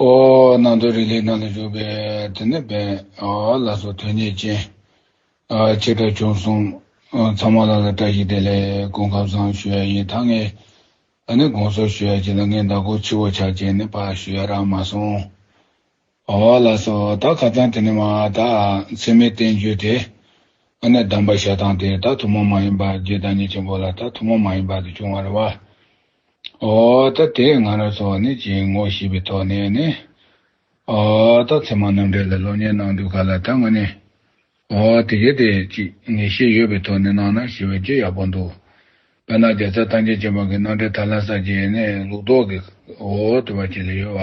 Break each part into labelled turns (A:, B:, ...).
A: ཨོ། སྣང་སྟོང་རིག་ལས་སྣང་ལ་འཇུག་པས་དེ་ནི་བན་ཨོ་ལ་སོགས་དོན་གཉིས་ཅན། བྱེ་བྲག་བྱུང་གསུང། ཚང་མ་ལ་ལ་བཀྲ་ཤིས་བདེ་ལེགས་དགུང་ཁམས་བཟང་ཞུ་ཡ་ཡིན་ད་ངས་ནི་དགོངས་ཚོར་ཞུ་ཡ་བྱེད་ལ་ངའི་ཟླ་གོར་ཕྱི་བོ་ཆགས་ཅན་ནི་པ་ཞུ་ཡ་རག་མ་སོང། ཨོ་ལ་སོགས་ད་ག་ཙང་དེ་ནི་མ་ད་མཚན་མའི་བསྟན་བཅོས་དེ་ནི་གདམས་པ་བཤད་སྟངས་དེ་ད་ཐུན་མོང་མ་ཡིན་པ་རྒྱུད་བདག་ཉིད་ཆེན་པོ་ལ་ད་ཐུན་མོང་མ་ཡིན་པ་དེ་བྱུང་བ་རེད་བ། འོ་ད་དེ་ང་རང་ཚོ་བ་ནི་ཅིའི་ངོ་ཞེས་པའི་ཐོག་ནས་ནི། འོ་ད་ཚེ་མ་ནམ་འབྲས་ལ་སློབ་གཉེར་གནང་དུས་ག་ལ་ད་ང་ནི། འོ་དེ་གལ་ཏེ་ཅིག་ངེས་ཤེས་ཡོད་པའི་ཐོག་ནས་གནང་ན་ཞེས་པའི་རྗེས་ཡག་པོ་འདུག་དཔེར་ན་རྒྱ་བཟའ་ཐང་རྒྱལ་གཅེན་པ་གི་གནང་འབྲས་ད་ལན་ས་བརྗེ་ནས་ལུགས་ལྡོག་གི་འོ་དེ་བ་ཅིག་ལ་ཡོད་བ།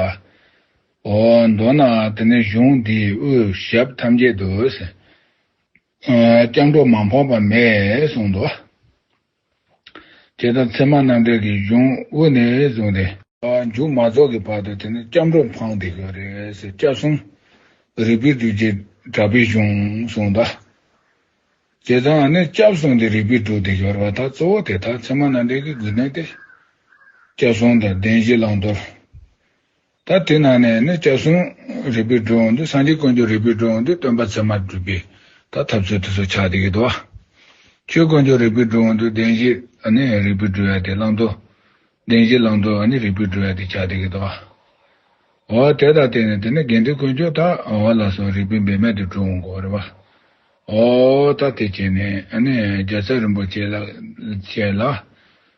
A: འོ་མདོར་ན་དེ་ནི་གཞུང་འདིའི་དབུས་ཞབས་ཐམས་ཅད་དུ། སྐྱབས་འགྲོ་མ་ཕོག་པ་མེད་གསུངས་འདུག། དེ་དང་མཚན་མ་རྣམ་འགྲེལ་གྱི་གཞུང་དབུ་ནས་བཟུང་སྟེ། མཇུག་མ་རྫོགས་ཀྱི་བར་དུ་དེ་ནི་སྐྱབས་འགྲོ་འཕང་བདེ་གི་རེ་ཞིག་སྐྱབས་གསུམ་རིག་པའི་རྒྱུད་ཀྱི་གྲགས་པའི་གཞུང་གསུང་གདའ། དེ་དང་ནི་སྐྱབས་གསུམ་གྱི་རིག་པའི་དྲུག་སྡེ་སྦྱོར་བ་དག་གཙོ་བོ་དེ་དག་མཚན་མ་རྣམ་འགྲེལ་གྱི་དགོས་འདུན་ཏེ། སྐྱབས་གསུམ་དང་བདེན་བཞི་བླང་དོར། ད་དེ་ནང་ནས་ནི་སྐྱབས་སེམས་རིག་པའི་སྒྲོན་འདི་སངས་རྒྱས་ཀུན་གྱི་རིག་པའི་སྒྲོན་འདི་སྟོན་པ་ཚད་མར་བསྒྲུབས་པའི་ད་ཐབས་ཚུལ་དེ་ཚོ་ཆགས་འདི་གི་དུ་བ། ཆོས་ཀུན་གྱི་རིག་པའི་སྒྲོན་འདི་བདེན་བཞི་ནི་རིག་པའི་སྒྲོན་དེ་བླང་དོར། བདེན་བཞི་བླང་དོར་ནི་རིག་པའི་སྒྲོན་དེ་ཆགས་འདི་གི་དུ་བ། འོ་དེ་ད་དེ་ནི་དེ་ནི་དགེ་འདུན་ཀུན་སྤྱོད་ད་འོ་ལ་སོགས་རིག་པའི་འབད་མེད་དུ་འགྲོ་འོང་གོ་རེ་བ། འོ་ད་དེ་བྱས་ནས་ནི་རྒྱལ་ཚབ་རིན་པོ་ཆེ་ལ་བཅས་ལ།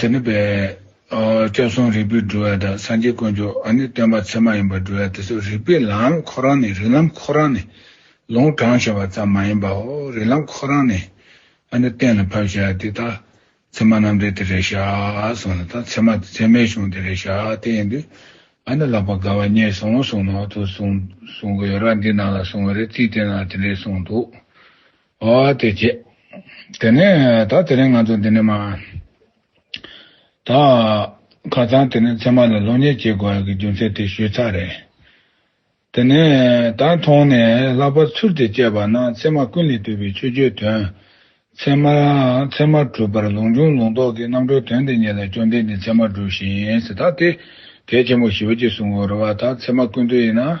A: དེ་ནི་བས། སྐྱབས་སོང་རིག་པའི་སྒྲུབ་བ་དང་སངས་རྒྱས་དཀོན་མཆོག་ཨ་ནི་སྟོན་པ་ཚད་མ་ཡིན་པར་སྒྲུབ་བ་དེ་ཚོ་རིག་པའི་ལམ་ཁོ་རང་ནས་རིག་ལམ་ཁོ་རང་ནས་ལོང་གྲངས་བྱ་བ་ཙམ་མ་ཡིན་པའོ་རིག་ལམ་ཁོ་རང་ནས་ཨ་ནི་གཏན་ལ་ཕབ་བྱ་དེ་དག་ཚད་མ་རྣམ་འགྲེལ་དེ་རེ་བྱ་སོང་ལ་དང་ཚད་མ་དེ་ཚད་མའི་གཞུང་དེ་རེ་བྱ་དེ་ཡིན་དུས་ཨ་ནི་ལག་པ་དགའ་བ་རྙེད་སོང་གསུངས་ནོ་དུ་གསུངས་གསུངས་གི་ཡོད་ར་འདི་ནང་ལ་གསུངས་བ་རེ་རྩིས་དེ་ནང་དེ་འདྲས་གསུངས་འདུག་ཨ་དེ་བྱས། དེ་ནས་ད་དེ་རིང་ང་ཚོ་འདི་ནས་མ། ད། ཁ་སང་དེ་ནས་ཚད་མ་ལ་ལོ་ཉེས་བྱེད་དགོས་ཡག་གི་རྒྱུ་མཚན་དེ་ཞུས་ཚར་རེད། དེ་ནས་ད་མཐོང་ནས་ལྷག་པར་ཚུལ་དེ་དཔྱད་པ་ན་ཚད་མ་ཀུན་ལས་བཏུས་པའི་ཆོས་བརྒྱུད་དོན། ཚད་མ། ཚད་མ་གྲུབ་པར་ལུང་འབྱུང་ལུང་རྟོགས་ཀྱི་རྣམ་གྲོལ་དོན་འདི་གཉིས་ལ་སྐྱོན་ལྡན་གྱི་ཚད་མ་གྲུབ་ཤིང་ད་དེ་གལ་ཆེན་པོ་ཞིག་འོད་ཀྱིས་བཟུང་འོ་རེ་བ་ད་ཚད་མ་ཀུན་བཏུས་ཡིན་ན།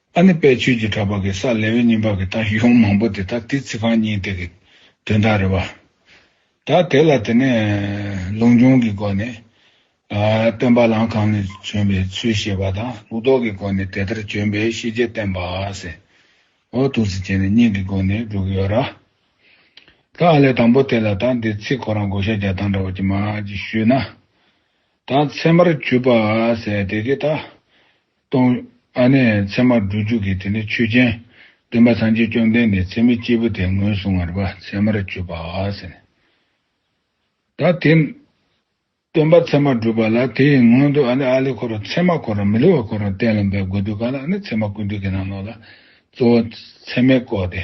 A: ཨ་ནི་དཔལ་ཆོས་ཀྱི་གྲགས་པ་གེ་སར་ལེ་ཝི་རྙིང་པ་གི་ལྟ་གཞུང་མང་པོ་དེ་དག་དེའི་ཚིག་རྐང་གཉིས་དེ་གི་དོན་དག་རེད་བ། ད་དེ་ལ་དེ་ནས་ལུང་སྦྱོང་གི་སྒོ་ནས། སྟོན་པ་ལམ་གང་ནས་བྱོན་པའི་ཚུལ་བཤད་པ་དང་ལུགས་ལྡོག་གི་སྒོ་ནས་དེ་ལྟར་བྱོན་པའི་ཤེས་བྱེད་བསྟན་པ། ཟེར་བ་དུག་ཚིག་བྱས་ནས་གཉིས་ཀྱི་སྒོ་ནས་བསྒྲུབས་ཀྱི་ཡོད་ར། ད་ཨ་ལས་དང་པོ་དེ་ལ་དང་དེའི་ཚིག་ཁོ་རང་བགོ་བཤའ་རྒྱག་སྟངས་འདྲ་བ་ཅི་མ་ཅི་ཞུས་ན། ད་ཚད་མར་གྱུར་པ། ཟེར་དེ་གི་ད། སྟོང། ཨ་ནི། མཚན་མ་འགྲོ་འཇུག་གི་དེ་ནི་ཆོས་ཅན། སྟོན་པ་སངས་རྒྱས་བཅོམ་ལྡན་འདས་མཚན་མའི་སྐྱེས་བུ་དེ་ངོས་བཟུང་བར་མཚན་མར་གྱུར་པ། ད་དེ། སྟོན་པ་མཚན་མ་བསྒྲུབ་པ་ལ་དེ་ཡི་སྔོན་དུ་ཨ་ནི་ཨཱ་ལི་འཁོར་བ་མཚན་མ་འཁོར་བ་མི་བསླུ་བ་འཁོར་བར་གཏན་ལ་འབེབས་དགོས་འདུག་ག་ལ་ཨ་ནི་མཚན་མ་ཀུན་འདུས་ཀྱི་རྣམ་ལོག་ལ། གཙོ་བོ། མཚན་མའི་སྐོར་ཏེ།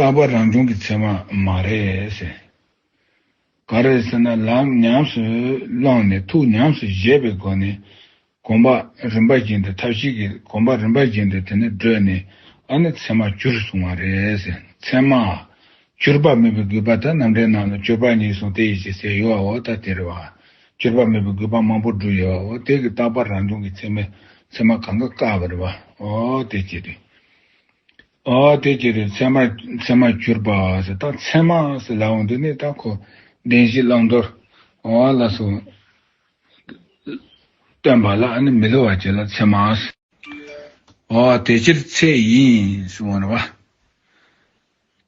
A: རྟག་པར་རང་བྱུང་གི་ཚད་མ་མ་རེད། ག་རེད་ཟེར་ན་ལམ་ཉམས་སུ་བླངས་ནས་ཐུགས་ཉམས་སུ་བཞེས་པའི་སྒོ་ནས་གོམས་པ་རིམ་པ་བཞིན་དུ་ཐབས་ཤེས་ཀྱི་གོམས་པ་རིམ་པ་བཞིན་དུ་དེ་ནས་བགྲོད་ནས་ཨ་ནི་ཚད་མ་གྱུར་གསུང་བ་རེད། ཚད་མ། གྱུར་པ་མེད་པའི་རྒུད་པ་དང་རྣམ་འགྲེལ་རྣམས་ལ་སྤྱོད་པ་གཉིས་གསུངས་ཏེ་ཡིད་ཀྱི་སའི་ཡུལ་བའོ་ད་དེ་རེད་བ། གྱུར་པ་མེད་པའི་རྒུད་པ་མང་པོ་བསྒྲུབས་ཡོད་བའོ་དེ་གི་རྟག་པར་རང་བྱུང་གི་ཚད་མའི་ཚད་མ་གང་ག་བཀག་པ་རེད་བ། ཨོ་དེ་ཅི་རེད། དེ་སྐྱེས་ཏེ་མཚན་མ། མཚན་མར་གྱུར་པ། མཚན་མ། ལ་འོངས་ཏེ་ནི། ད་འཁོར་འདས་གཞི་བླང་དོར། ལ་སོགས། སྟོན་པ་ལ་ནི་མི་སླུ་བར་བྱེད་ལ་མཚན་མ། དེ་ཕྱིར་ཚད་ཡིན།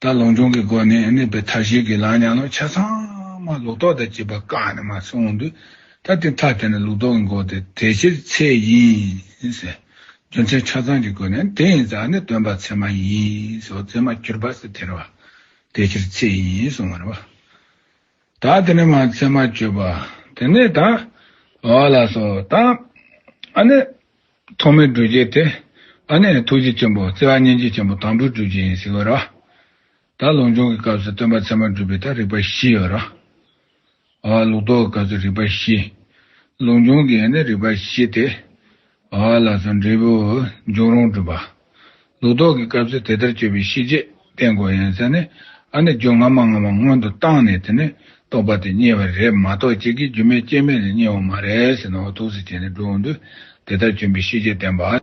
A: ད་ལོངས་སྤྱོང་གི་སྒོ་ནས་ནི་བས་མཐའ་བཞི་གི་ལང་ཉག་ལོ་ཆ་ཚང་མ་ལུགས་ལྡོག་དང་བཅས་པ་བཀག་ནས་མ་སོང་དུས། ད་དེ་མཐའ་དེ་ནི་ལུགས་ལྡོག་གི་འགོག་སྟེ་དེ་ཕྱིར་ཚད་ཡིན། རྒྱུ་མཚན་ཆ་ཚང་གི་སྒོ་ནས་དེ་ཡིན་ཙང་ནི་སྟོན་པ་ཚད་མ་ཡིན་སོགས་ཚད་མ་གྱུར་པ་སི་ཐེར་བ་དེ་ཕྱིར་ཚད་ཡིན་གསུང་བར་བ། ད་དེ་ནི་མ་ཚད་མ་གྱུར་པ་དེ་ནི་ད་བ་ལ་སོགས་དང། ཨ་ནི། ཐོག་མའི་སྒྲུབ་བྱེད་དེ་ཨ་ནི་ཐུགས་རྗེ་ཆེན་པོ་བརྩེ་བ་སྙིང་རྗེ་ཆེན་པོ་དང་པོའི་སྒྲུབ་བྱེད་ཡིན་སི་བར་བ། ད་ལུང་སྦྱོང་གི་སྐབས་སུ་སྟོན་པ་ཚད་མར་སྒྲུབ་པའི་ཐད་རིགས་པ་བཞི་ཡོད། ལུགས་ལྡོག་གི་སྐབས་སུ་རིགས་པ་བཞི། ལུང་སྦྱོང་གི་ཡན་ནི་རིགས་པ་བཞི་སྟེ། ལ་སོགས་འབྲས་བུ། འབྱུང་རུང་སྒྲུབ་པ། ལུགས་ལྡོག་གི་སྐབས་སུ་དེ་ལྟར་དཔྱོད་པའི་ཤེས་བྱེད་བསྟན་གོ་ཡན་ས་ནི། ཨ་ནི་རྒྱུ་སྔ་མ་སྔ་མ་སྔོན་དུ་བཏང་ནས་དེ་ནི་རྟོགས་པ་དེ་རྙེད་པ་རེད་མ་གཏོགས་གཅིག་གིས་རྒྱུ་མེད་རྐྱེན་མེད་ལ་རྙེད་འོང་མ་རེད་ཟེར་ནའོ་ཐུགས་སུ་བྱས་ནས་སྒྲུབ་འོང་དུས་དེ་ལྟར་བྱོན་པའི་ཤེས་བྱེད་བསྟན་པ།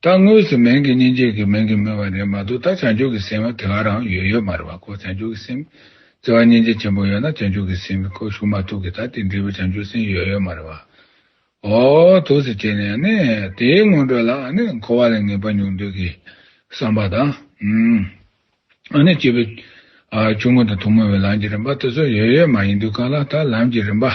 A: ད་དངོས་སུ་མིང་གི་སྙིང་རྗེ་གི་མིང་གི་སྨོས་པ་རེད་མ་གཏོགས་ད་བྱང་ཆུབ་ཀྱི་སེམས་དབང་དེ་ག་རང་ཡོད་ཡོད་མ་རེད་བ་ཁོ་བྱང་ཆུབ་ཀྱི་སེམས་ཟེར་བ་སྙིང་རྗེ་ཆེན་པོ་ཡོད་ན་བྱང་ཆུབ་ཀྱི་སེམས་ཁོ་ཞུགས་མ་ཐུབ་གི་ད་དེ་འདྲི་བའི་བྱང་ཆུབ་སེམས་ཡོད་ཡོད་མ་རེད་བ། ཨོ་དུག་སེ་བྱས་ནས་ཨ་ནི་དེའི་སྔོན་འགྲོ་ལ་ཨ་ནི་འཁོར་བ་ལས་ངེས་པ་མྱོང་འདོད་ཀྱི་བསམ་པ་དང། ཨ་ནི་སྐྱེས་བུ་ཆུང་ངུ་དང་ཐུང་མོ་བའི་ལམ་གྱི་རིམ་པ་དེ་ཚོ་ཡོད་ཡོད་མ་ཡིན་དུས་གང་ལ་ད་ལམ་གྱི་རིམ་པ།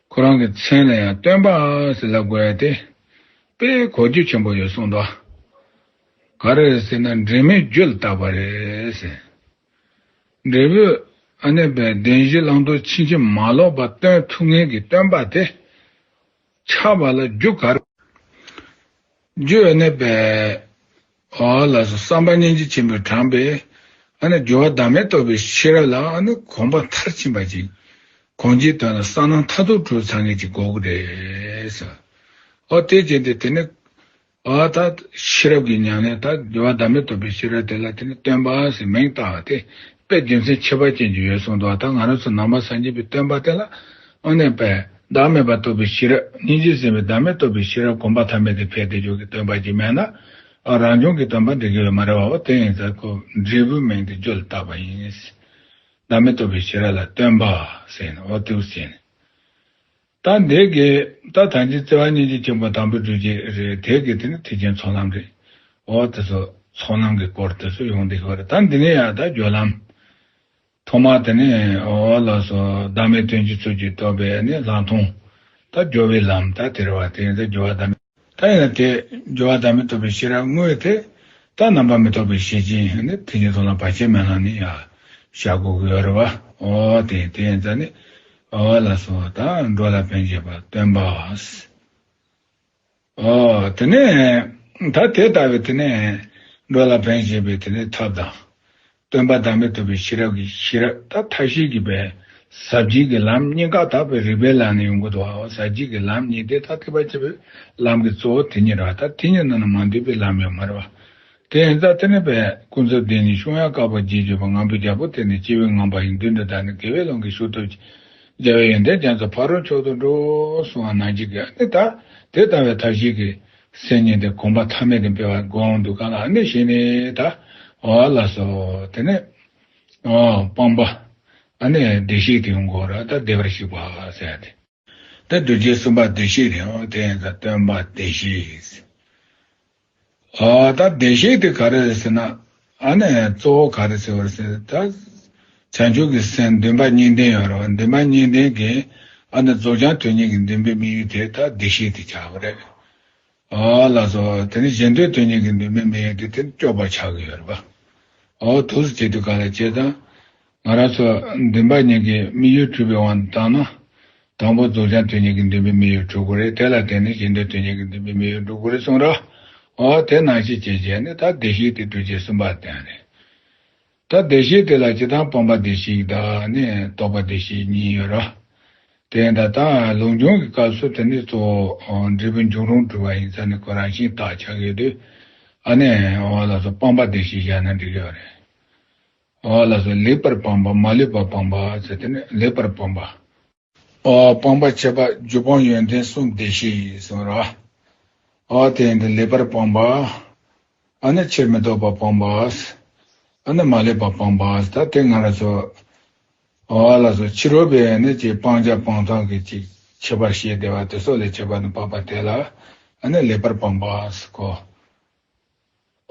A: ཁོ་རང་གི་མཚན་ལ་ཡང་སྟོན་པ་ཟེར་ལ་དགོས་ཏེ་དཔེའི་གོ་རྒྱུ་ཆེན་པོ་ཡོད་གསུངས་ཏོ། ག་རེ་རེད་ཟེར་ན་འབྲས་མོའི་རྒྱུད་ལ་བཏགས་པ་རེད་ཟེར། འབྲས་བུ་ཨ་ནེ་པའི་བདེན་བཞི་བླང་དོར་ཕྱིན་ཅི་མ་ལོག་པ་སྟོན་ཐུབ་ངེས་ཀྱི་སྟོན་པ་དེ་ཆགས་པ་ལ་རྒྱུ་ག་རེ་རེད། རྒྱུ་ཨ་ནེ་པའི་ཨ་ལ་སོགས་བསམ་པ་སྙིང་རྗེ་ཆེན་པོས་དྲངས་པའི། ཨ་ནི་སྦྱོར་བ་བདག་མེད་རྟོགས་པའི་ཤེས་རབ་ལ་ཨ་ནི་དགོངས་པ་མཐར་ཕྱིན་པ་ཅིག། གོང་གི་དོན་ལ་གསང་སྣང་མཐའ་རྡོ་གྲུབ་ཚང་ངེས་ཀྱི་འགོག་གི་རེད། ཨོ་དེ་ཅི་འདི་དེ་ནི། ཨ་ད། ཤེས་རབ་ཀྱི་མྱང་གནས་ད་སྦྱོར་བ་བདག་མེད་རྟོགས་པའི་ཤེས་རབ་དེ་ལ་དེ་ནི་སྟོན་པ་ཞེས་མིང་བཏགས་ཏེ་པའི་རྒྱུ་མཚན་ཁྱད་པར་ཅན་གྱི་ཡོད་གསུངས་འདུག་ད་ང་རང་ཚོ་ནང་མ་སངས་རྒྱས་པའི་སྟོན་པ་དེ་ལ་དངོས་གནས་པས། བདག་མེད་པར་རྟོགས་པའི་ཤེས་རབ་སྙིང་རྗེས་ཟིན་པའི་བདག་མེད་རྟོགས་པའི་ཤེས་རབ་གོམས་པ་ཐ་མལ་དེ་ཕལ་ཏེ་ཇོ་གི་སྟོན་པ་གྱིས་སྨྲས་ན། ཨ་རང་བྱུང་གི་སྟོན་པ་འདྲི་གི་ཡོད་མ་རེད་བ་བོ་དེ་ཡིན་ཚར་ཁོ་འབྲས་བུའི་མིང་དེ་བརྗོད་ལ་བཏགས་པ་ཡིན། བདག་མེད་རྟོགས་པའི་ཤེས་རབ་ལ་སྟོན་པ་ཟེར་ནས་ཨོ་ཏེའུ་ཟེར་ནས། དང་དེ་གའི། ད་ཐང་ཅིག་བརྩེ་བ་སྙིང་རྗེ་ཆེན་པོ་དང་པོའི་སྤྲུལ་སྐྱེས་རེད་དེ་གའི་དེ་ནི་ཐེག་ཆེན་ཚོགས་ལམ་རེད། འོ་དེ་ཚོ་ཚོགས་ལམ་གི་སྐོར་དེ་ཚོ་ཡོང་དེ་ཤོག་རེད་ད་འདི་ནས་ཡང་ད་སྦྱོར་ལམ། ཐོག་མ་དེ་ནས་འོ་ལགས་སོ་བདག་མེད་དོན་གྱི་ཚུལ་གྱིས་རྟོགས་པས་ནི་ལྷག་མཐོང། ད་སྦྱོར་བའི་ལམ་ད་དེར་བ་དེ་ཡིན་ད་སྦྱོར་བ་ད་མེད། ད་ཡིན་ན་དེས་སྦྱོར་བ་བདག་མེད་རྟོགས་པའི་ཤེས་རབ་དངོས་དེ། རྟགས་རྣམ་པར་མི་རྟོག་པའི་ཤེས་བྱེད་ཡིན་ནི་དེ་ཉིད་དོན་ལ་བར་ཆད་མེད་ལ་ནི། ཤ་ཁུ་ཁུ་ཡོད་རེད་བ། ཨོ་དེ་དེ་ཡིན་ཙང་ནི། ཨོ་ལ་སོ་དང་འགྲོ་ལ་ཕན་བྱེད་པ་སྟོན་པ། ཨོ་དེ་ནས་ད་དེ་ལྟ་བའི་དེ་ནས་འགྲོ་ལ་ཕན་བྱེད་པའི་དེ་ནས་ཐབས་དང། སྟོན་པ་བདག་མེད་ཐུབ་པའི་ཤེས་རབ་ཀྱིས་ཤེས་རབ་ད་ཐབས་ཤེས་ཀྱི་པའི། ཟབ་རྒྱས་ཀྱི་ལམ་གཉིས་བཀའ་དག་པའི་རིགས་པའི་ལམ་ནི་ཡོངས་གོ་དོའོ་ཟབ་རྒྱས་ཀྱི་ལམ་གཉིས་དེ་ལྟ་སྟེ་བ་སྤྱི་བོའི་ལམ་གྱི་གཙོ་བོ་དེ་ཉིད་རོ་ད་དེ་ཉིད་ནང་ན་མ་འདུས་པའི་ལམ་ཡང་མ་རེ་བ། དེ་ཡིན་ད་དེ་ནི་པའི་ཀུན་རྫོབ་བདེན་གཉིས་ཤོང་ཡང་བཀའ་བབས་རྗེས་བརྗོད་པ་ངང་པའི་རྒྱལ་པོ་དེ་ནི་སྤྱི་བོའི་ངང་པ་ཡིན་དུས་འདི་དག་ནི་དགེ་བའི་ཀློང་གི་ཤུགས་སྟོབས་ཀྱིས་རྒྱལ་བའི་ཡོན་ཏན་རྒྱ་མཚོ་ཕ་རོལ་མཆོག་ཏུ་འགྲོ། གསུང་བ་ནང་བཞིན་གྱི་ཨ་ནི་ད་དེ་ལྟ་བའི་ཐབས་ཤེས་ཀྱི། སེམས་ཉིད་དེ་གོམས་པ་ཐ་མལ་དུ་འཕེལ་བར་དགོངས་འདུག་གང་ལགས་ནི་ཞེས་ནི་ད་བ་ལ་སོགས་དེ་ནས། སྤངས་པ། ནས་བདེ་གཤེགས་དེའི་མགོ་ར་ད་བདེ་བར་བཤིག་པ་ཟད་དེ། དེ་རྡོ་རྗེ་གསུམ་པ་བདེ་གཤེགས་དེའང་དེ་ཡིན་ད་སྟོན་པ་བདེ་གཤེགས། ད་བདེ་གཤེགས་དེ་ག་རེ་ཟེར་ན། ཨ་ནི་གཙོ་བོ་ག་རེ་ཟེར་བར་ཟད་ད། བྱང་ཆུབ་ཀྱི་སེམས་འདུན་པ་གཉིས་ལྡན་ཡོད་རེད་བ་འདུན་པ་གཉིས་ལྡན་གྱི་ཨ་ནི་རྫོགས་བྱང་དོན་གཉིས་ཀྱི་འདུན་པའི་དམིགས་ཡུལ་དེ་ད་བདེ་གཤེགས་དེ་བྱ་བ་རེད། ཨོ་ལ་སོ། དེ་ནི་གཞན་དོན་དོན་གཉིས་ཀྱི་འདུན་པའི་དམིགས་ཡུལ་དེ་དེ་ནི་སྐྱོབ་པར་བྱ་གི་ཡོད་རེད་བ། ཨོ་དུས་སུ་སྐྱེ་དུས་ག་ལ་སྐྱེ་དང། ང་རང་ཚོ་འདུན་པ་གཉིས་ཀྱི་དམིགས་ཡུལ་འཁྲུལ་པའི་དབང་དུ་བཏང་ན། དང་པོ་རྫོགས་བྱང་དོན་གཉིས་ཀྱི་འདུན་པའི་དམིགས་ཡུལ་འཁྲུལ་དགོས་རེད་དེ་ལ་བརྟེན་ནས་གཞི་འདོད་དོན་གཉིས་ཀྱི་འདུན་པའི་དམིགས་ཡུལ་འགྲུབ་དགོས་རེད་གསུངས་ར། ཨོ་དེ་ནང་བཞིན་བྱེད་བྱས་ནས་ད་བདེ་གཤེགས་དེ་གྲོལ་བྱེད་གསུམ་པ་དེ་ཨང་རེད། ད་བདེ་གཤེགས་དེ་ལ་སྤྱི་དང་སྤངས་པ་བདེ་གཤེགས་དང་ནི་རྟོགས་པ་བདེ་གཤེགས་གཉིས་ཡོད་ར། དེ་ཡིན་ད་ལྟ་ལུང་སྦྱོང་གི་སྐབས་སུ་དེ་ནི་གཙོ་བོ་འབྲས་བུ་འབྱུང་རུང་འཁྲུལ་པ་ཡིན་ས་ནི་ཁོ་རང་བཞིན་བརྟག་བྱ་དགོས་དུས། ཨ་ནི་ཨོ་ལ་སོགས་སྤངས་པ་བདེ་གཤེགས་བཞག་ན་འགྲིག་ཡོད་རེད། པའོ་ལ་སོགས་ལེགས་པར་སྤངས་པ་མ་ལུས་པ་སྤངས་པ་ཟེར་ཏེ་ནི་ལེགས་པར་སྤངས་པའོ། སྤངས་པར་བྱེད་པ་རྒྱུ་སྤང་ཡོན་ཏན་གསུམ་བདེ་གཤེགས་ཡིན་གསུང་ར་བའོ། དེ་ཡིན་ཏེ་ལེགས་པར་སྤངས་པའོ། ཨ་ནི་ཕྱིར་མི་ལྡོག་པ་སྤངས་པའོ། ཨ་ནི་མ་ལུས་པ་སྤངས་པའོ་ད་དེ་སྔ་ལ་སོགས། པའོ་ལ་སོགས་ཕྱི་རོལ་པའི་ནི་ཅིག་སྤང་བྱ་སྤང་ཐང་གི་ཅིག་ཕྱེད་པར་ཤེས་བདེ་བ་དེ་སོགས་ལས་བྱེད་པ་ནི་སྤངས་པ་དེ་ལ་ནི་ལེགས་པར་སྤངས་པའོ།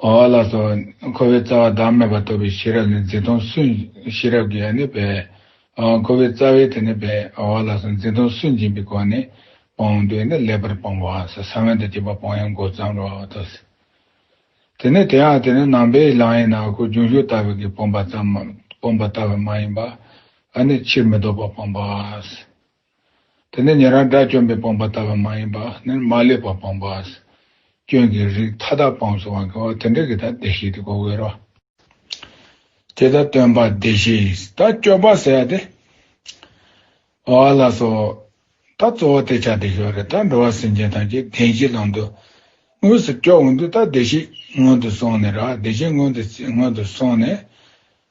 A: འོག་ལ་སོགས་འཁོར་བའི་རྩ་བ་བདག་མེད་པར་རྟོགས་པའི་ཤེས་རབ་ནི་འཛིན་སྟོང་སུན། ཤེས་རབ་ཀྱི་ཡང་ནི་སྦས། འཁོར་བའི་རྩ་བའི་དེ་ནི་སྦས། འོག་ལ་སོགས་འཛིན་སྟོང་སུན་འབྱིན་པའི་སྒོ་ནས་སྤོང། འདོད་ནི་ལེགས་པར་སྤོང་བའང་སོ། ས་བོན་དུ་བསྐྱེད་པ་སྤོང་ཡང་མགོ་བརྩམ་རོ། དེ་ནི་དེའང་དེ་ནི་ནང་པའི་ལམ་ཡིན་ན་སྐུ་འབྱུང་གཞུག་ལྟ་བུ་གིས་སྤོང་པ་ལྟ་བུ་མ་ཡིན་པ། ཨ་ནི་ཕྱིར་མི་ལྡོག་པར་སྤོང་པ། དེ་ནི་ཉན་རང་དགྲ་བཅོམ་པའི་སྤངས་པ་ལྟ་བ་མ་ཡིན་པ་ནི་མ་བསླད་པ་སྤངས་པ། སྐྱོན་གྱི་རིགས་མཐའ་དག་སྤངས་སོ་བ་འགལ་བ་དེ་འདྲ་གི་དག་བདེ་གཤེགས་དེ་ཀོ་བའི་རོ། དེ་དག་སྟོན་པ་བདེ་གཤེགས་དག་སྐྱོབ་པ་ཟེར་བ་དེ། བ་ལ་སོ། ད་གཙོ་བོ་དེ་ཆ་དེ་ཞོ་རེ་ད་འགྲོ་བ་སེམས་ཅན་ཐམས་ཅད་བདེན་བཞི་ལམ་དུ། དངོས་སུ་སྐྱོབ་འོང་དུས་དག་བདེ་གཤེགས་སྔོན་དུ་སོང་ནས་རག་བདེ་གཤེགས་སྔོན་དུ་སོང་ནས།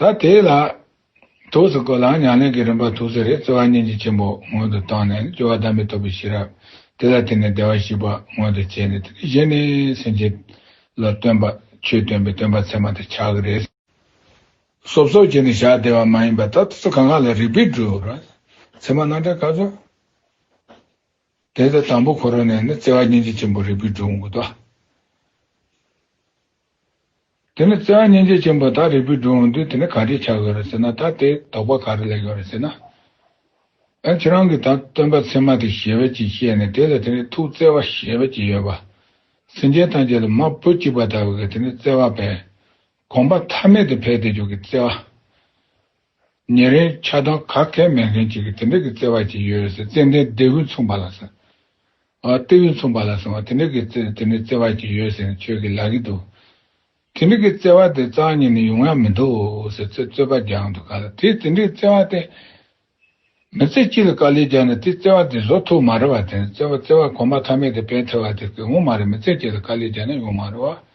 A: ད་དེ་ལ་ཐུགས་སུ་བཀོད་ལ་ཉམས་ལེན་གྱི་རིམ་པ་ཐུགས་སུ་རེ་རྩེ་བ་སྙིང་རྗེ་ཆེན་པོ་སྔོན་དུ་བཏང་ནས་སྦྱོར་བ་བདག་མེད་རྟོགས་པའི་ཤེས་རབ་དེ་ལ་བརྟེན་ནས་བདེ་བར་གཤེགས་པ་མངོན་དུ་བྱས་ནས་དེ་ནས་གཞན་ནི་སེམས་ཅན་ལ་སྟོན་པ་ཆོས་སྟོན་པའི་སྟོན་པ་ཚད་མ་དེ་ཕྱག་གི་རེ། གསོབ་གསོབ་བྱས་ནས་ཞག་བདེ་བ་མ་ཡིན་པ་ད་ཐུགས་སུ་གང་ག་ལ་རིག་པའི་སྒྲུབ་ར་ཚད་མ་སྣང་འདྲ་ག་ཚོད། དེ་ལྟར་དང་པོ་འཁོར་བ་ནས་ནི་རྩེ་བ་སྙིང་རྗེ་ཆེན་པོ་རིག་པའི་སྒྲུབ་མགོ་བཟླ། དེ་ནི་བརྩེ་བ་སྙིང་རྗེ་ཅན་པོ་དག་རིག་པའི་སྒྲུང་འོང་དུས་དེ་ནི་ག་རེ་ཆགས་ཡོད་རེད་ཟེར་ན་ད་དེའི་དོགས་པ་ག་རེ་ལས་ཡོད་རེད་ཟེར་ན། ད་ཁྱེད་རང་གིས་ད་སྟོན་པ་ཚད་མ་དེ་ཞེས་པ་ཅིག་བཤད་ནས་དེ་ལ་དེ་ནི་ཐུགས་བརྩེ་བ་ཞེས་པ་ཅིག་ཡོད་པ། སེམས་ཅན་ཐམས་ཅད་ལ་མ་བུ་གཅིག་པ་ལྟ་བུའི་དེ་ནི་བརྩེ་བ་བས། དགོངས་པ་མཐའ་མེད་དུ་འཕེལ་ཏེ་འཇུག་གི་བརྩེ་བ། ཉེ་རིང་ཆ་སྟོན་ཁ་མཁས་མེད་མཁན་གཅིག་གིས་དེ་འདྲ་གི་བརྩེ་བ་ཅིག་ཡོད་རེད་ཟེར་ཙན་དན་ལྡེ་ཧུད་མཚུངས་པ་ལ་ཟེར། ལྟེ་ཧུད་མཚུངས་པ་ལ་ཟེར་བ་དེ་འདྲ་གི་བརྩེ་དེ་འདྲའི་བརྩེ་བ་ཅིག་ཡོད་ཟེར་ནས་ཁྱོད་ཀྱིས་ལབ་ཀྱི་འདུག་དེ་འདྲ་གི་བརྩེ་བ་དེ་གཙང་སྙིང་ནས་ཡོང་ཡ་མི་འདུག་ཟེར་ཚེ་རྩོད་པ་རྒྱང་དུ་ག་ལ་དེས་དེ་འདྲའི་བརྩེ་བ་དེ། མི་ཚེ་གཅིག་ལ་དཀའ་ལས་རྒྱག་ནས་དེས་བརྩེ་བ་དེ་བཟོ་ཐུབ་མ་རེད་བ་དེ་ནི་བརྩེ་བ་བརྩེ་བ་གོམ་པ་ཐ་མལ་དེ་བས་ཐལ་བ་དེ་ཀྱིས་ངོ་མ་རེད་མི་ཚེ་གཅིག་ལ་དཀའ་ལས་རྒྱག་ནས་ཡོང་མ་རེད་བ།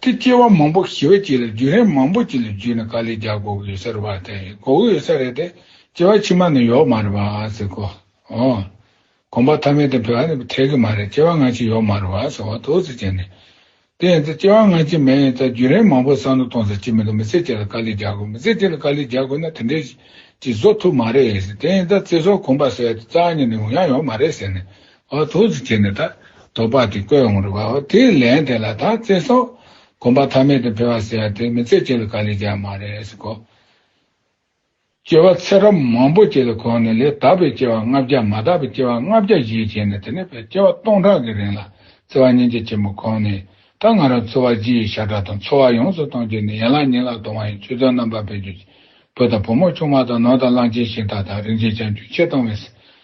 A: ཀྱི་སྐྱེ་བ་མང་པོ་ཞི་བ་གཅིག་ལ་རྒྱུན་རིང་མང་པོ་གཅིག་ལ་བརྒྱུད་ནས་ག་ལེར་རྒྱག་གོ་གི་ཡོད་ས་རེད་བ་དེ་གོ་གི་ཡོད་ས་རེད་དེ་སྐྱེ་བ་ཕྱི་མ་ནས་ཡོག་མ་རེད་བ་ཟེར་གོ་ཨོ། གོམ་པ་ཐ་མའི་དེ་བོད་ཨ་རི་བ་ཐེག་གི་མ་རེད་སྐྱེ་བ་སྔ་ཕྱི་ཡོག་མ་རེད་བ་ཟེར་བ་ཐུགས་གཟིགས་བྱས་ནས། དེ་ཡིན་ཚེ་སྐྱེ་བ་སྔ་ཕྱི་མེད་ཡིན་ཚ་རྒྱུན་རིང་མང་པོ་བསམ་བློ་གཏོང་ས་ཅིག་མི་འདུག་མི་ཚེ་གཅིག་ལ་ག་ལེར་རྒྱག་དགོས་མི་ཚེ་གཅིག་ལ་ག་ལེར་རྒྱག་དགོས་ན་དེ་འདྲའི་ཅིག་བཟོ་ཐུབ་མ་རེད་དེ་ཡིན་ཚ་ཚེ་སྲོག་གོམ་པ་ཟད་དེ་རྩ་གཉིས་ནས་ཡོང་ཡག་ཡོག་མ་རེད་ཟེར་ནས་ཨ་ཐུགས་རྗེ་ཆེ་ནས་ད་དོ་པ་དེ་བཀོད་འོང་རེ་བའོ་དེ་ལན་དེ་ལ་ད་བརྩེ་སོང། གོམ་པ་ཐ་མལ་དུ་འཕེལ་བ་ཟེར་བ་དེ་མི་ཚེ་སྐྱེལ་བའི་དཀའ་ལས་ཀྱང་མ་རེད་སེ་གོ། སྐྱེ་བ་ཚེ་རབས་མང་པོ་སྐྱེལ་ལ་གོང་ནས་ལས་དག་པའི་སྐྱེ་བ་ལྔ་བརྒྱ་མ་དག་པའི་སྐྱེ་བ་ལྔ་བརྒྱ་བཞེས་བྱས་ནས་དེ་ནས་བས་སྐྱེ་བ་སྟོང་ཕྲག་གི་རིང་ལ་བརྩེ་བ་སྙིང་རྗེ་ཆེན་པོ་གོང་ནས་ད་ང་རང་འཚོ་བ་སྤྱི་ཡི་ཤ་ཁྲག་དང་འཚོ་བ་ཡོངས་སུ་གཏོང་རྒྱུ་ནི་ཡན་ལག་ཉིང་ལག་དུ་དབང་ཡིན་ཆུ་ཚོད་རྣམ་པར་འཕེལ་རྒྱུ་བུ་དང་བུ་མོ་ཆུང་མ་དང་ནོར་དང་གླང་ཆེན་ཤིང་སྟག་དང་རིན་ཆེན་ཆང་བཅུད་ཆེ་གཏོང་བས།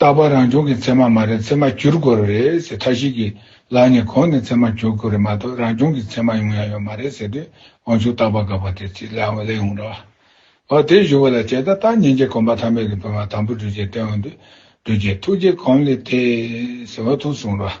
A: རྟག་པར་རང་བྱུང་གི་མཚན་མ་མ་རེད་མཚན་མ་བསྒྱུར་དགོས་རེད་ཟེར་མཐའ་ཞིག་གིས་ལར་ནས་གོང་ནས་མཚན་མ་བསྒྱུར་དགོས་རེད་མ་གཏོགས་རང་བྱུང་གི་མཚན་མ་ཡོང་ཡ་ཡོད་མ་རེད་ཟེར་དུས་དབང་ཕྱུག་རྟག་པར་དགག་པ་དེ་ཚིག་ལན་ལེགས་འོང་རོགས། ཨོ་དེ་ཞུ་བ་ལ་བྱས་ད་ལྟ་ཉིན་བྱེད་གོམ་པ་ཐ་མལ་གྱི་བོད་མ་དམ་པོ་འགྲུལ་བྱེད་སྟོན་འོང་དུས་འགྲུལ་བྱེད་ཐུགས་རྗེ་གོམས་ལེ་ཐེ། ཟེར་བ་ཐུགས་གསུང་རོགས།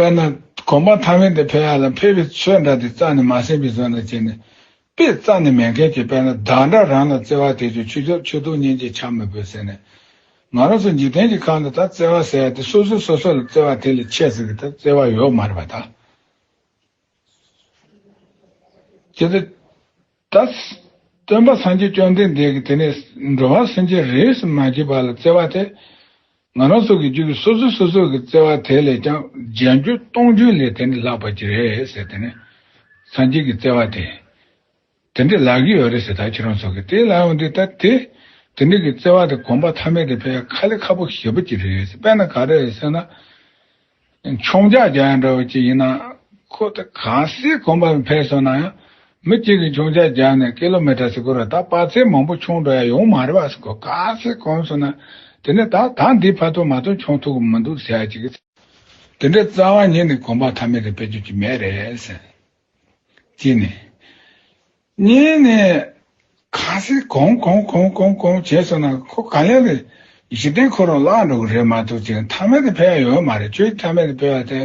A: དཔེར་ན། གོམ་པ་ཐག་མེད་དེ་འཕེལ་ཡ་ལ་འཕེལ་བའི་ཆོས་འདྲ་དེ་རྩ་ནས་མ་ཟིན་པའི་བཟོ་འདྲ་བྱས་ནས། དཔེ་རྩ་ནས་མེད་མཁན་གྱི་དཔེར་ན་བདག་འདྲ་རང་ལ་བརྩེ་བ་དེས་ཀྱང་ཆུ་འཇོག་ཆུ་བཏུང་གཉེན་གྱིས་ཆགས་མི་ཕོད་ཟེར་ནས། ང་རང་ཚོ་འཇིག་རྟེན་གྱི་ཁམས་འདི་དག་བརྩེ་བ་ཟེར་ཡ་དེ་སོ་སོས་སོ་སོ་ལ་བརྩེ་བ་དེ་ལས་ཆེས་ཟེར་གི་ད་བརྩེ་བ་ཡོད་མ་རེད་པ་ད། ཇི་ལྟར། ཏདྱ། སྟོན་པ་སངས་རྒྱས་བཅོམ་ལྡན་འདས་ཀྱིས་དེ་ནས་འགྲོ་བ་སེམས་ཅན་རེས་སུ་མ་བགྱིས་པ་ལ་བརྩེ་བ་དེ། ང་རང་སོགས་ཀྱི་རྒྱུད་ཀྱི་སོ་སོའི་སོ་སོར་གྱི་བརྩེ་བ་དེ་ལས་ཀྱང་བརྒྱད་འགྱུར་སྟོང་འགྱུར་ལས་དེ་འདྲི་ལགས་པར་བགྱི་རེ་ཟེར་དེ་ནས། སངས་རྒྱས་ཀྱིས་བརྩེ་བ་དེ། དེ་འདྲི་ལགས་ཀྱི་ཡོད་རེ་ཟེར་ད་ཁྱེད་རང་སོགས་ཀྱིས་དེ་ལ་ཡང་འདི་ལྟ་སྟེ། དེ་འདྲི་གི་བརྩེ་བ་དེ་གོམས་པ་ཐ་མལ་དེ་ཕལ་ཁ་ལས་ཁ་པོ་ཞེ་པོ་བགྱི་རེ་ཟེར་པས་ན་ག་རེ་ཟེར་ན། མཆོང་རྒྱ་རྒྱ་ཡང་འདྲ་བ་གཅིག་ཡིན་ན་ཁོ་ད་གང་སའི་གོམ་པ་ལ་འཕེན་སོང་ན་ཡང་མི་གཅིག་གིས་མཆོང་རྒྱ་རྒྱག་ནས་ཀི་ལོ་མི་ཏྲ་སིག་བུར་ར་ད་དཔའ་ཚད་མང་པོ་མཆོང་འགྲོ་ཡ་ཡོང་མ་རེད་བ་སེ་ཁོ་གང་སའི་གོམ་སོང་ན་དེ་ནས་ད་ད་འདིའི་ཕ་ཐོ་མ་ཐོ་མཆོང་ཐུབ་གི་མི་འདུག་ཟེར་ཡ་གཅིག་གིས། དེ་འདྲའི་རྩ་བ་ཉིད་ནས་གོམ་པ་མཐའ་མེད་རེ་སྤེལ་རྒྱུ་གཅིག་མེད་རེད་ཟེར། གཅིག་ནས། གཉིས་ནས། ཁ་ཟས་གང་གང་གང་གང་གང་བྱས་སོང་ན་ཁོ་ག་ལེར་རེད། གཞི་རྟེན་ཁོ་རང་བརླག་འགྲོ་གི་རེད་མ་གཏོགས་ཁྱོད་མཐའ་མེད་དུ་འཕེལ་ཡ་ཡོད་མ་རེད་ཁྱོད་མཐའ་མེད་དུ་འཕེལ་བ་དེ།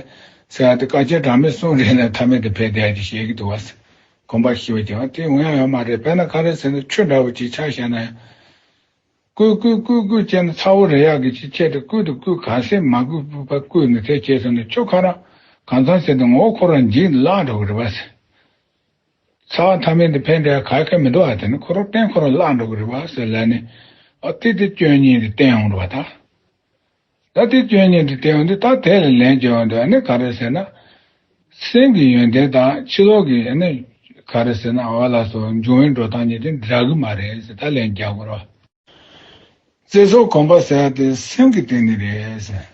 A: ཟེར་བ་དེ་བཀའ་ཁྱེད་གྲངས་མེད་གསུངས་རེད་ལ་མཐའ་མེད་དུ་འཕེལ་བསྡད་ཅེས་བཤད་ཀྱི་འདུག་བ་ཟེར། གོམ་པ་ཞི་བ་རྒྱག་པ་དེ་འོན་ཡ་ཡོད་མ་རེད་དཔེར་ན་ཁ་རས་ཟེར་ན་ཆུ་འདྲ་བོ་ཅིག་ཆགས་བཤད་ན་ཡང། བསྐུས་བསྐུས་བསྐུས་བསྐུས་བྱས་ན་ཚ་བོ་རེ་ཡག་གི་ཅིག་ཁྱེད་དེ་བསྐུས་དང་བསྐུས་ག་ཟས་མ་བསྐུས་བསྐུས་པ་བསྐུས་ནས་དེ་བྱས་སོང་ན་ཁྱོད་ཁ་རང་གང་ཚང་ཟེར་དུ་ངོ་བོ་ཁོ་རང་འཇིག་ནས་བརླག་འགྲོ་གི་རེད་བ་ཟེར། ཚ་བ་མཐའ་མེད་དུ་འཕེལ་འདྲ་ག་གེ་མི་འགྲོ་བ་དེ་ནི་ཁོ་རང་བསྟེན་ཁོ་རང་བརླག་འགྲོ་གི་རེད་བ་ཟེར་ལ་ནི། ཨ་ཏི་ཏི་སྐྱོན་ཉིད་དུ་བསྟེན་འོང་འགྲོ་བ་དང། ད་ཏི་སྐྱོན་ཉིད་དུ་བསྟེན་འོང་དུས་ད་དེ་ལ་ལན་བརྒྱབ་འོང་འདོད་ནི་ག་རེ་ཟེར་ན། སེམས་ཀྱི་ཡོན་ཏན་དང་ཕྱི་ལོག་གི་ཡོན་ཏན་ག་རེ་ཟེར་ན་འོ་ལ་སོ་འབྱུང་བའི་འགྲོ་སྟངས་གཉིས་དེ་འདྲ་གི་མ་རེད་ཟེར་ད་ལན་བརྒྱབ་དགོས་རེད་བ། རྩེ་སོགས་གོམས་པ་ཟེར་བ་དེ་སེམས་ཀྱི་སྟེང་ནས་རེད།